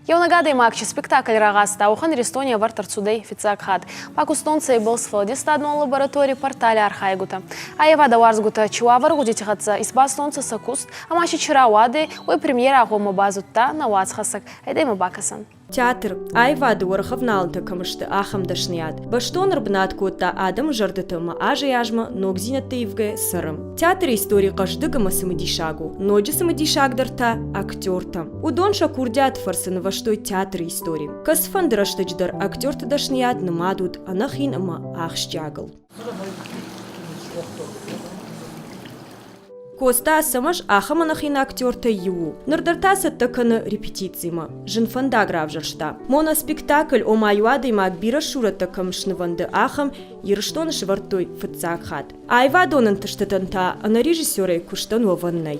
Еунӕг адӕймаг чи спектакль рагъазта, уӕхӕн Иристони ӕвӕрд ӕрцудӕй фиццаг хатт. Пакустон цӕйбӕл сфӕлдистадон лабораторий портали архайгутӕ, аййевадӕ уарзгутӕ чи уавӕр гъудити хӕццӕ исбастонцӕ сӕ куст ӕма си чи рауадӕй, уой премьерӕ гъоммӕ базудта нӕ уацхӕссӕг, айдӕмӕ бакӕсӕн. Театр, аивады уӕргъ ӕвналынтӕ кӕм сты, ахӕм дӕсныйад, бӕстон ӕрбынат кодта адӕмы зӕрдӕты ӕмӕ азӕй-азмӕ ногдзинӕдты ивгӕ цӕры. Театры истори хъӕздыг ӕмӕ цымыдисаг у, ноджы цымыдисагдӕр та, актертӕ. Уыдон сӕ курдиат фӕрцы нывӕзтой театры истори. Кӕцыфӕнды рӕстӕджы дӕр актерты дӕсныйад нымад уыд ӕнӕхин ӕмӕ ахсджиагыл. Коста Ацӕмӕз ахӕм ӕнӕхин актертӕй иу у. Ныр дӕр та цӕттӕ кӕны репетицимӕ. Зын фӕндаг равзӕрста. Моноспектакль ома иу адӕймаг бирӕ сурӕттӕ кӕм снывӕнды, ахӕм Ирыстоны сывӕрдтой фыццаг хатт. Аивадон ӕнтыстытӕн та ӕнӕрежиссерӕй куыстӕн уӕвӕн нӕй.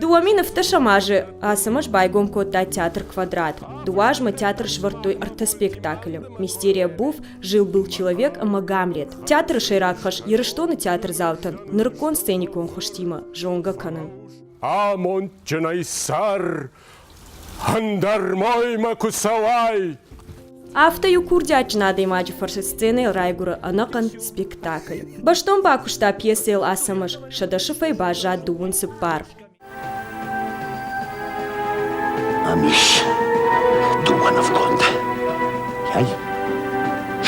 Дыууӕ мин ӕфтӕсӕм азы Ацӕмӕз байгом кодта театр «Квадрат». Дыууӕ азмӕ театр сӕвӕрдтой ӕртӕ спектаклы «Мистерия Буф», «Жил-был человек» ӕмӕ «Гамлет». Театры сӕйраг хӕс Ирыстоны театрдзаутӕн нырыккон сценикон хуызтимӕ зонгӕ кӕнын. Амондджынӕй цӕр, Ӕндӕр моймӕ куы цӕуай! Афтӕ-иу курдиатджын адӕймаджы фӕрцы сценӕйыл райгуыры ӕнӕхъӕн спектакль. Бӕстон бакуыста пьесӕйыл Ацӕмӕз, сӕдӕ сыфӕй баззад дыууын цыппар. Амис, дыууӕ нывгонд. Ай,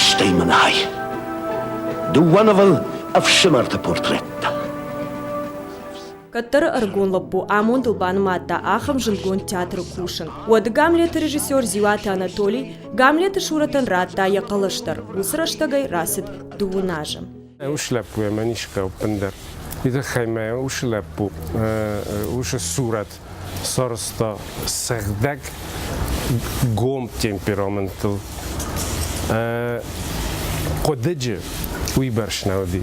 стӕй мын хай. Дыууӕ нывыл ӕфсымӕрты портреттӕ. Кӕддӕры ӕрыгон лӕппу амондыл банымадта ахӕм зындгонд театры кусын. Уӕды Гамлеты режиссер Зиуаты Анатолий Гамлеты Шуротӕн радта йӕ хъӕлӕс дӕр. Уыцы рӕстӕгӕй рацыд дыууын азы. Ус лӕппуйӕ мӕн ис ӕппындӕр уый тыххӕй мӕ ус лӕппу усы сурӕт сарызта сыгъдӕг гом темпераментыл. Хъуыдыджы уыйбӕрц нӕ уыди.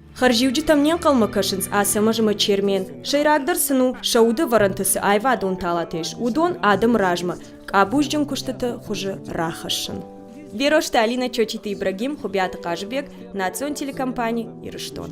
Хӕрзиуджытӕм не нхъӕлмӕ кӕсынц Ацӕмӕзмӕ Чермен. Сӕйрагдӕр сын у, сӕ удӕвӕрӕнты цы аивадон талатӕ ис, уыдон адӕмы размӕ къабузджын куыстыты хуызы рахӕссын. Берозты Алина Чочиты Ибрагим, Хуыбиаты Хъазыбег, национ телекомпани «Ирыстон».